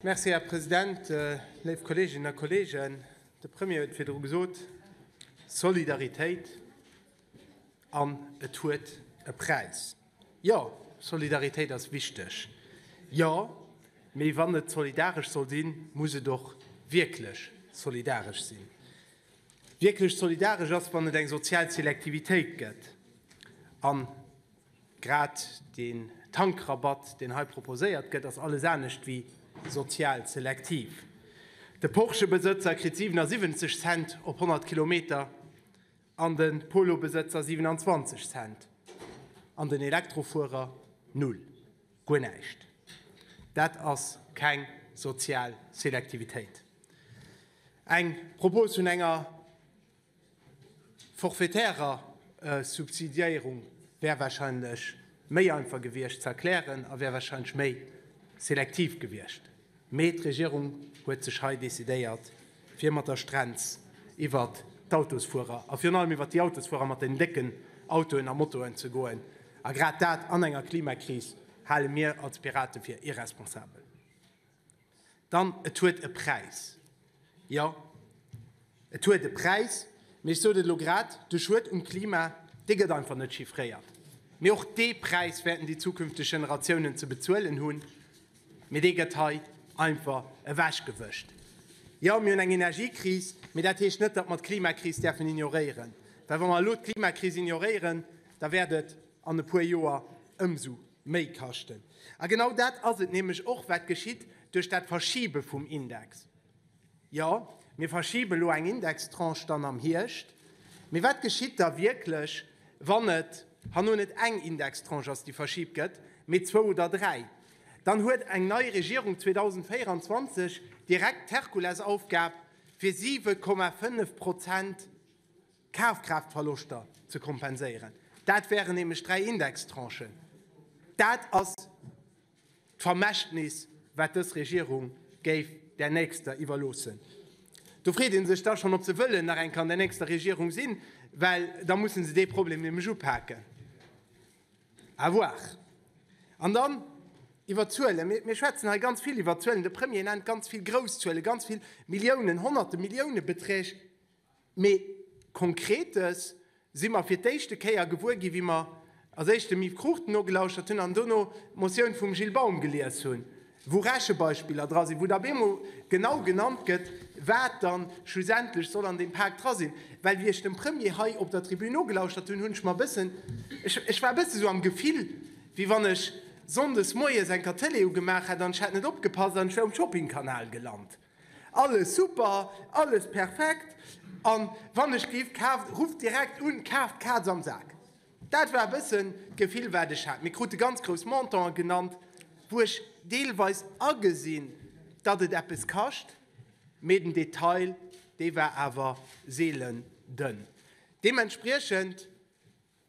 Merci, Här President. Léif Kolleeginnen a Kolleegen, de Premier huet virdru gesot, Solidaritéit, an et huet e Präis. Jo, Solidaritéit ass wichteg, jo, mee wann et solidaresch soll sinn, muss et och wierklech solidaresch sinn. Wierklech solidaresch ass, wann et eng sozial Selektivitéit gëtt. Grad deen Tankrabatt, deen hei proposéiert gëtt, ass alles anescht ewéi sozial selektiv. De Porsche-Besëtzer kritt 77 Cent op 100 Kilometer an de Polo-Besëtzer 27 Cent an den Elektrofuerer null, guer näischt. Dat ass keng sozial Selektivitéit. Eng Propos vun enger. D'forfaitärer Subsidiéierung wär wahrscheinlech méi einfach gewiescht ze erklären a wär wahrscheinlech méi selektiv gewiescht. Mee d'Regierung huet sech hei decidéiert, fir mat der Strenz iwwer d'Autosfuerer a virun allem iwwer déi Autosfuerer mat den décken Autoen a Motoen ze goen. A grad dat an enger Klimakris hale mir als Pirate fir irresponsabel. Dann, et huet e Präis. Jo, et huet e Präis, mee ech sot et elo grad, de Schued um Klima, dee gëtt einfach net chiffréiert. Mee och dee Präis wäerten déi zukünfteg Generatiounen ze bezuelen hunn, mee dee gëtt hei einfach ewechgewëscht. Jo, mir hunn eng Energiekris, mee dat heescht net, datt mer d'Klimakris däerfen ignoréieren, well wa mer elo d'Klimakris ignoréieren, da wäert et an e puer Joer ëmsou Méi kaschten. A genau dat ass et nämlech och, wat geschitt duerch dat Verschiebe vum Index. Jo, mir verschiben elo eng Indextranche dann am Hierscht. Mee wat geschitt da wierklech, wann et hanno net eng Indextranche ass, déi verschibt gëtt, mee zwou oder dräi? Dann huet eng nei Regierung 2024 direkt d'Herkulesaufgab, fir 7,5 Prozent, Kafkraaftverloschter ze kompenséieren. Dat wären nämlech dräi Indextranchen. Dat ass d'Vermächtnis, wat dës Regierung géif där nächster iwwerloossen. Do freet ee sech da schonn, ob se wëllen nach eng Kéier an der nächster Regierung sinn, well da musse se dee Problem nämlech upaken. À voir. An dann iwwer d'Zuelen. Mir, mir schwätzen hei ganz vill iwwer d'Zuelen. De Premier nennt ganz vill grouss Zuelen, ganz vill Milliounen, Honnerte Milliounebeträg. Mee Konkretes si mer fir d'éischte Kéier gewuer ginn, wéi mer als éischt dem Yves Cruchten nogelauschert hunn an dono d'Motioun vum Gilles Baum gelies hunn, wou Rechebeispiller dra sinn, wou da op eemol genau genannt gëtt, wat dann schlussendlech soll an deem Pak dra sinn. Well wéi ech dem Premier hei op der Tribün nogelauschert hunn, hunn ech mer e bëssen, ech war e bësse sou am Gefill, wéi wann ech sonndes moies enker d'Tëlee ugemaach hätt an ech hätt net opgepasst an ech wär um Shoppingkanal gelant. Alles super, alles perfekt an wann ech géif kaaft, rufft direkt un, kaaft d'Kaz am Sak. Dat war e bëssen d'Gefill wat ech hat. Mir krute ganz grouss Montanten genannt, wou ech deelweis agesinn, datt et eppes kascht, mee den Detail dee war awer seelen dënn. Deementspriechend.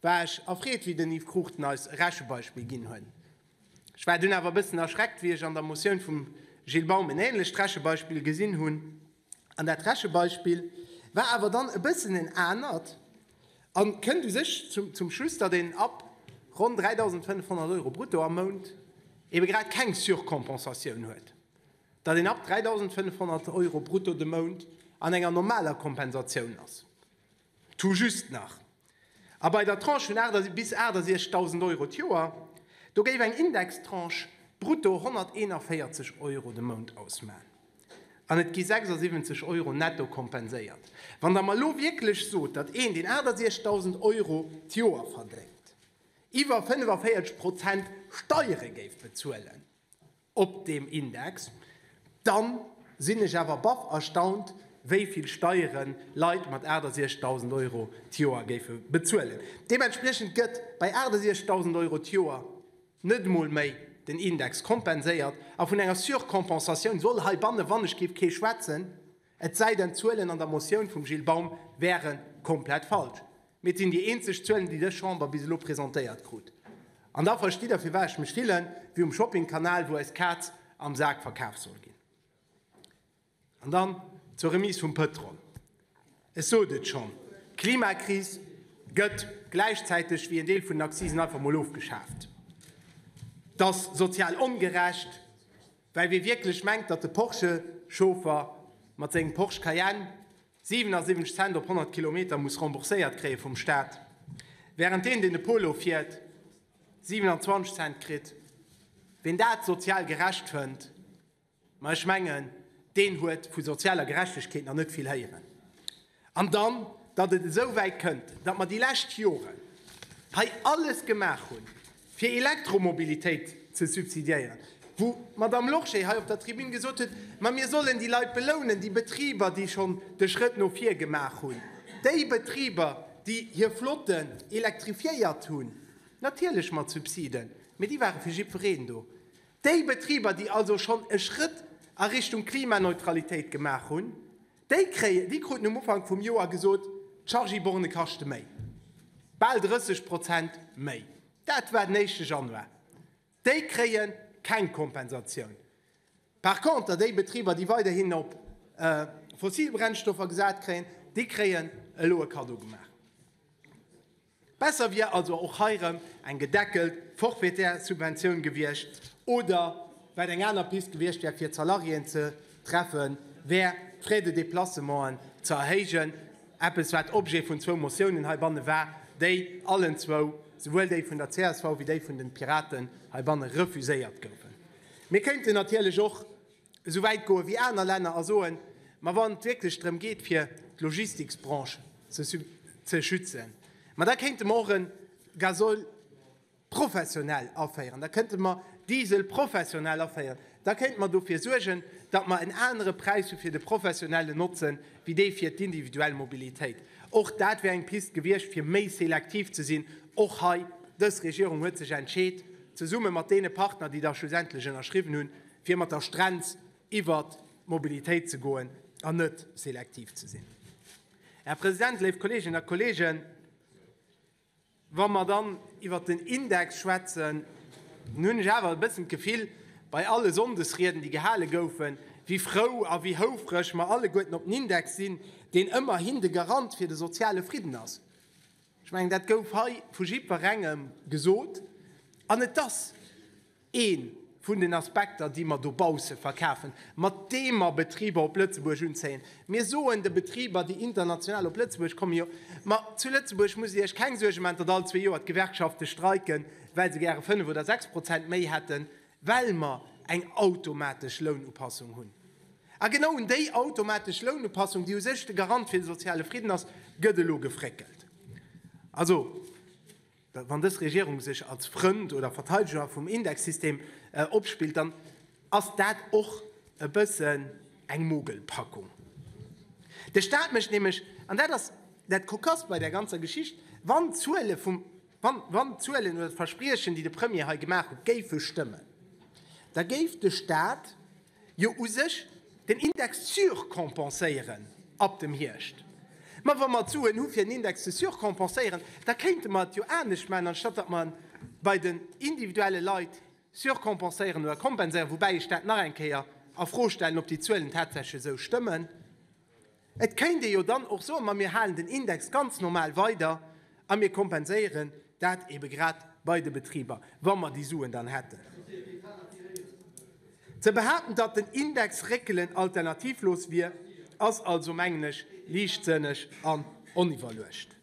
War ech erfreet, wéi den Yves Cruchten eis e Rechebeispill ginn huet. Ech war dunn awer e bëssen erschreckt, wéi ech an der Motioun vum Gilles Baum en änlecht Rechebeispill gesinn hunn. An dat Rechebeispill war awer dann e bëssen en anert a kënnt u sech zum Schluss, datt een ab ronn 3.500 Euro brutto am Mount ebe grad keng Surcompensatioun huet, datt een ab 3.500 Euro brutto de Mount an enger normaler Kompensatioun ass. Tout juste nach. A bei der Tranche vun 8 bis 68.000 Euro d'Joer, do géif eng Indextranche brutto 141 Euro de Mount ausmachen an et gi 76 Euro netto kompenséiert. Wann Der mer elo wierklech sot, datt een, deen 68.000 Euro d'Joer verdéngt, iwwer 45 Prozent Steiere géif bezuelen, op deem Index, dann sinn ech awer baff erstaunt, wéi vill Steieren Leit mat 68.000 Euro d'Joer géife bezuelen. Deementspriechend gëtt bei 68.000 Euro d'Joer net emol méi den Index kompenséiert, a vun enger Surcompensatioun soll heibanne wannechgéif kee schwätzen. Et sei denn d'Zuelen an der Motioun vum Gilles Baum wäre komplett falsch. Mee et sinn déi eenzeg Zuelen, déi dës Chamber bis elo presentéiert krut. An da verstitt Der, firwat ech mech fillen, wéi um Shoppingkanal, wou eis Kaz am Sak verkaf soll ginn. An dann zur Remise vum Pëtrol. Ech sot et schonn, d'Klimakris gëtt gläichzäiteg wéi en Deel vun den Accisen einfach mol ofgeschaaft. Dat ass sozial ongerecht. Well wee wierklech mengt, datt de Porsche-Chauffer mat sengem Porsche Cayenne 77 Cent op 100 Kilometer muss rembourséiert kréie vum Staat, wärend deen, deen de Polo fiert, 27 Cent kritt, ween dat sozial gerecht fënnt, ma ech mengen, deen huet vu sozialer Gerechtegkeet nach net vill héieren. An dann, datt et esou wäit kënnt, datt mer déi lescht Joren hei alles gemaach hunn, fir Elektromobilitéit ze subsidiéieren, wou d'Madame Lorsché hei op der Tribün gesot huet, ma mir sollen déi Leit belounen, déi Betriber, déi schonn de Schrëtt no vir gemaach hunn, déi Betriber, déi hir Flotten elektrifiéiert hunn, natierlech mat Subsiden, mee déi ware fir jiddwereen do, déi Betriber, déi also schonn e Schrëtt a Richtung Klimaneutralitéit gemaach hunn. Déi kruten um Ufank vum Joer gesot, d'Chargy-Borne kaschte méi, bal 30 Prozent méi. Dat war den éischte Januar. Déi kréie keng Kompensatioun. Par contre déi Betriber, déi weiderhin op fossil Brennstoffer gesat kréien, déi kréien elo e Kaddo gemaach. Besser wier also och hei erëm eng gedeckelt forfaitaire Subventioun gewiescht, oder wat eng aner Pist gewiescht wär fir d'Salariéen ze treffen, wär d'Frais de déplacementen ze erhéijen, eppes wat Objet vun zwou Motiounen heibanne war, déi allen zwou, souwuel déi vun der csv wéi déi vun de Piraten, heibanne refuséiert goufen. Mir kéinten natierlech och esou wäit goe wéi aner Länner a soen, ma wann et wierklech drëm geet fir d'Logistiksbranche ze schützen, ma da kéinte mer och e Gasoil professionel aféieren, da kënnte mer Diesel professionel aféieren, da kéinte mer dofir suergen, datt mer en anere Präis hu fir de professionellen Notzen, wéi dee fir d'individuell Mobilitéit. Och dat wär eng Piste gewiescht fir méi selektiv ze sinn. Och hei, dës Regierung huet sech entscheet, zesumme mat deene Partner, déi da schlussendlech ënnerschriwwen hunn, fir mat der Strenz iwwert d'Mobilitéit ze goen an net selektiv ze sinn. Här President, léif Kolleeginnen a Kolleegen, wa mer dann iwwert den Index schwätzen, dann hunn ech awer e bëssen d'Gefill, bei alle Sonndesrieden, déi gehale goufen, wéi frou a wéi houfreg mer alleguerten op den Index sinn, deen ëmmerhin de Garant fir de soziale Fridden ass. Ech mengen, dat gouf hei vu jiddwerengem gesot. An et ass. Ee vun den Aspekter, déi mer dobausse verkafen, mat deem mer Betriber op Lëtzebuerg unzéien. Mir soen de Betriber, déi international op Lëtzebuerg kommen, jo, ma zu Lëtzebuerg musst Dir Iech keng Suerge maachen, datt all zwee Joer d'Gewerkschafte streiken, well se gäre fënnf oder sechs Prozent méi hätten, well mer eng automatesch Lounupassung hunn. A genau un déi automatesch Lounupassung, déi u sech de Garant fir de soziale Fridden ass, gëtt elo gefréckelt. Also, Wann dës Regierung sech als Frënd oder Verteideger vum Indexsystem opspillt, dann ass dat och e bëssen eng Mogelpackung. De Staat mécht nämlech, an dat ass dat Kokasst bei där ganzer Geschicht, wann d'Zuele vum, wann d'Zuelen oder d'Verspriechen, déi de Premier hei gemaach huet, géife stëmmen, da géif de Staat, jo u sech den Index surcompenséieren ab dem Hierscht. Mä wa mer d'Suen hu fir den Index ze surcompenséieren, da kéinte mer et jo anescht maachen, anstatt datt mer en bei den individuelle Leit surcompenséieren oder kompenséieren, woubäi ech dat nach eng Kéier a Fro stellen, ob déi Zuelen tatsächlech esou stëmmen. Et kéint ee jo dann och soen, ma mir halen den Index ganz normal weider a mir kompenséieren dat eebe grad bei de Betriber, wa mer déi Suen dann hätten. Ze behaapten, datt den Index réckelen alternativlos wier, ass also, mengen ech, liichtsënneg an oniwwerluecht.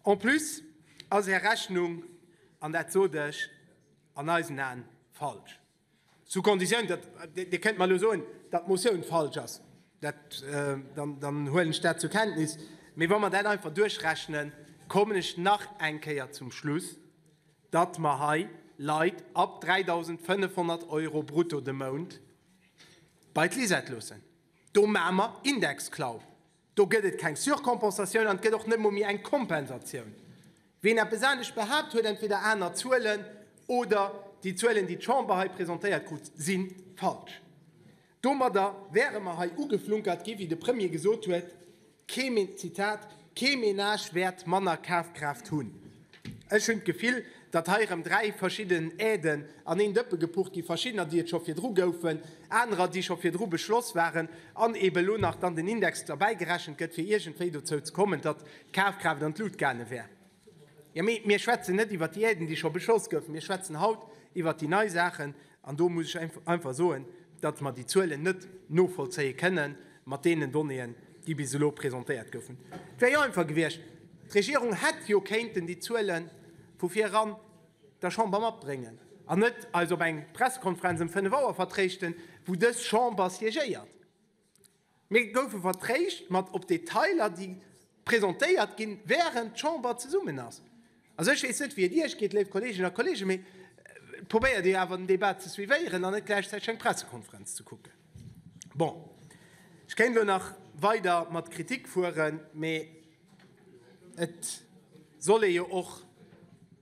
En plus ass Är Rechnung, an dat sot ech, an eisen Aen falsch. Sous condition, datt Dir kënnt mer elo soen, datt d'Motioun falsch ass, dann huelen ech dat zur Kenntnis. Mee wa mer dat einfach duerchrechnen, kommen ech nach eng Kéier zum Schluss, datt mer hei Leit ab 3.500 Euro brutto de Mount bei d'Lisette loossen. Do maache mer Indexklauf. Do gëtt et keng Surcompensatioun an et gëtt och net emol méi eng Kompensatioun. Wien eppes anescht behaapt, huet entweder aner Zuelen oder déi Zuelen, déi d'Chamber hei presentéiert krut, si falsch. Domadder wäre mer hei ugeflunkert gi wéi de Premier gesot huet, kee, Zitat, kee Menage wäert manner Kafkraaft hunn. Ech hunn d'Gefill, datt hei erëm dräi verschidden Aiden an een Dëppe gepucht ginn, verschiddener, déi et scho virdru goufen, anerer, déi scho virdru beschloss waren, an eeben elo nach dann den Index derbäi gerechent gëtt, fir iergendwéi dozou ze kommen, datt d'Kafkraaft an d'Lut gaange wär. Jo, mee mir schwätzen net iwwert déi Aiden, déi scho beschloss goufen. Mir schwätzen haut iwwert déi nei Saachen. An do muss ech einfach soen, datt mer déi Zuelen net novollzéie kënne mat deenen Donnéeën, déi bis elo presentéiert goufen. Et wär jo einfach gewiescht, d'Regierung hätt jo kéinten déi Zuele vu viran der Chamber matbréngen an net eis op eng Pressekonferenz ëm fënnef Auer vertréischten, wou dës Chamber siégéiert. Mir goufe vertréischt mat op d'Detailer, déi presentéiert ginn, wärend d'Chamber zesummen ass. Also ech weess net, wéi et Iech geet, léif Kolleeginnen a Kolleegen, mee probéiert Dir awer den Débat ze suivéieren an net gläichzäiteg eng Pressekonferenz ze kucken. Bon, ech kéint elo nach weider mat Kritik fueren, mee et soll ee jo och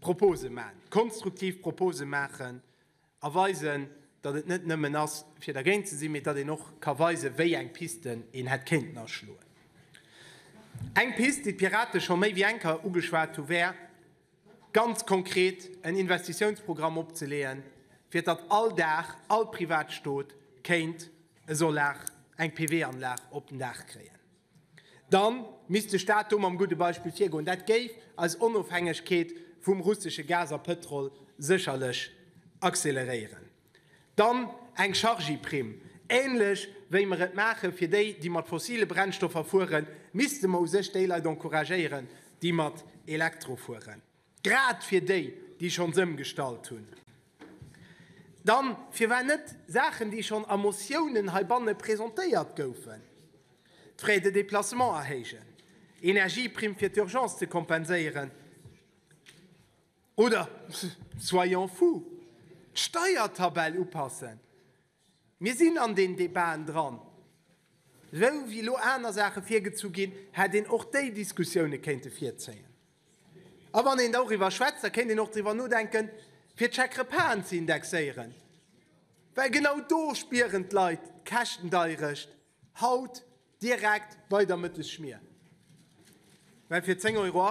Propose maachen, konstruktiv Propose maachen. A weisen, datt et net nëmmen ass, fir dergéint ze sinn, mee datt een och ka weisen, wéi eng Pisten een hätt kéinten aschloen. Eng Pist, déi d'Pirate scho méi wéi eng Keier ugeschwat hu, wär, ganz konkret en Investitiounsprogramm opzeleeën, fir datt all Daach, all Privatstot kéint e Solar, eng PV-Anlag op den Daach kréien. Da misst de Staat do mam gudde Beispill virgoen. Dat géif eis Onofhängegkeet vum russesche Gas a Pëtrol sécherlech acceleréieren. Dann eng Chargy-Primm. Ähnlech wéi mer et maache fir déi, déi mat fossile Brennstoffer fueren, misste mer u sech déi Leit encouragéieren, déi mat Elektro fueren. Grad fir déi, déi schonns ëmgestallt hunn. Dann, firwat net Saachen, déi schonn a Motiounen heibanne presentéiert goufen, d'Frais de déplacement erhéijen, Energieprimm fir d'Urgence ze kompenséieren oder, soyons fous, d'Steiertabell upassen? Mir sinn an deenen Debaten dran. Esou wéi elo aner Saache virgezu ginn, hätt een och déi Diskussioune kéinte virzéien. A wann een douriwwer schwätzt, da kéint een och driwwer nodenken, fir d'Chèque-repasen ze indexéieren, well genau do spieren d'Leit d'Käschtendeierecht haut direkt bei der Mëttesschmier, well fir 10,80 Euro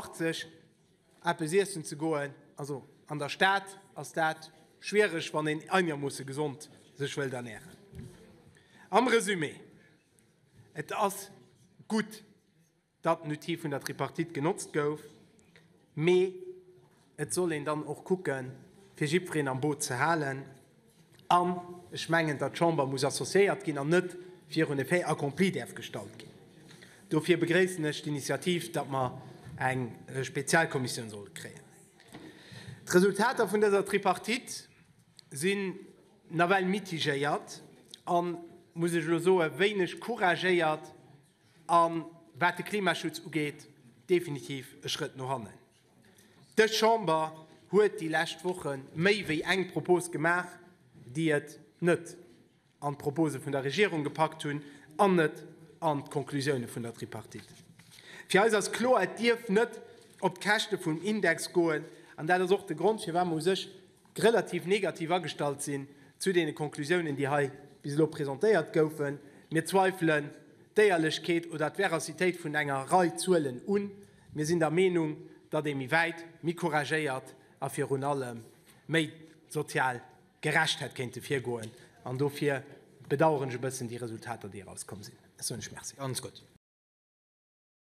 eppes iessen ze goen, also an der Stad, ass dat schwiereg, wann een einermoosse gesond sech wëllt ernähren. Am Resumé, Et ass gutt, datt den Outil vun der Tripartite genotzt gouf, mee et soll een dann och kucke fir jiddwereen am Boot ze halen an ech mengen, datt d'Chamber muss associéiert ginn an net virun e Fait accompli däerf gestallt ginn. Dofir begréissen ech d'Initiativ, datt mer eng Spezialkommissioun solle kréien. D'Resultater vun dëser Tripartite sinn nawell mitigéiert a, muss ech elo soen, wéineg couragéiert. A wat de Klimaschutz ugeet, definitiv e Schrëtt no hannen. Dës Chamber huet déi lescht Woche méi wéi eng Propos gemaach, déi et net an d'Propose vun der Regierung gepackt hunn an net an d'Conclusioune vun der Tripartite. Fir eis ass kloer, et dierf net op d'Käschte vum Index goen. An dat ass och de Grond, firwat mer u sech relativ negativ agestallt sinn zu deene Konklusiounen, déi hei bis elo presentéiert goufen. Mir zweifelen d'Éierlechkeet oder d'Veracitéit vun enger Rei Zuelen un. Mir sinn der Meenung, datt ee méi wäit, méi couragéiert a virun allem méi sozial gerecht hätt kéinte virgoen. An dofir bedaueren ech e bëssen déi Resultater, déi erauskomm sinn. Ech soen lech Merci.